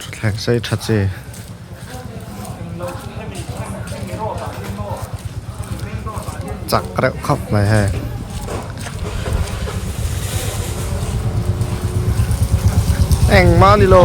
thutthleng sei tha che chak reuh khawp mai hei engmah ni lo.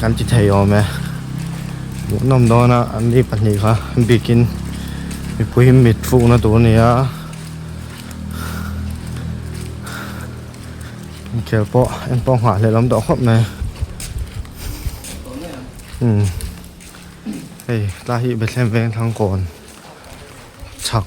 kan ti thei awm e hmuh nawm dawna an ni pahnih kha bikin mipui mit fukna tur a ni a inkhel pawh engpawh nghah lehlam tawh khawp mai umm hei tlai hi bethlehem vengthlang kawn chhak.